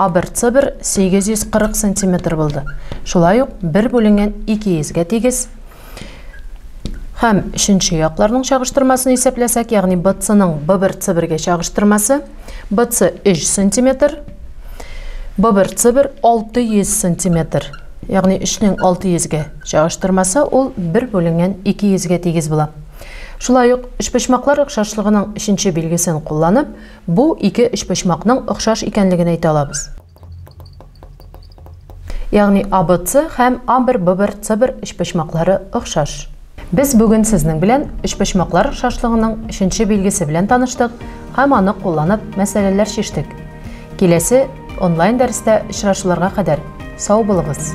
Абыр-цыбыр 840 сантиметр булды. Шулай ук бер бүленгән ике йөзгә тигез һәм өченче якларның чагыштырмасын исәпләсәк, ягъни БЦның ББРЦБергә чагыштырмасы, БЦ 3 сантиметр, ББРЦБер 600 сантиметр, ягъни 3-нең 600-гә чагыштырмасы ул бер бүленгән 200-гә тигез була. Шулай ук, өчпочмаклар охшашлыгының өченче билгесен кулланып, Бу ике өчпочмакның охшаш икәнлеген әйтә алабыз. Ягъни ABC һәм A1-B1-C1 өчпочмаклары охшаш. Без бүген сезнең белән өчпочмаклар охшашлыгының өченче билгесе белән таныштык һәм аны кулланып мәсьәләләр чиштек. Киләсе онлайн дәрестә очрашуларга кадәр сау булыгыз!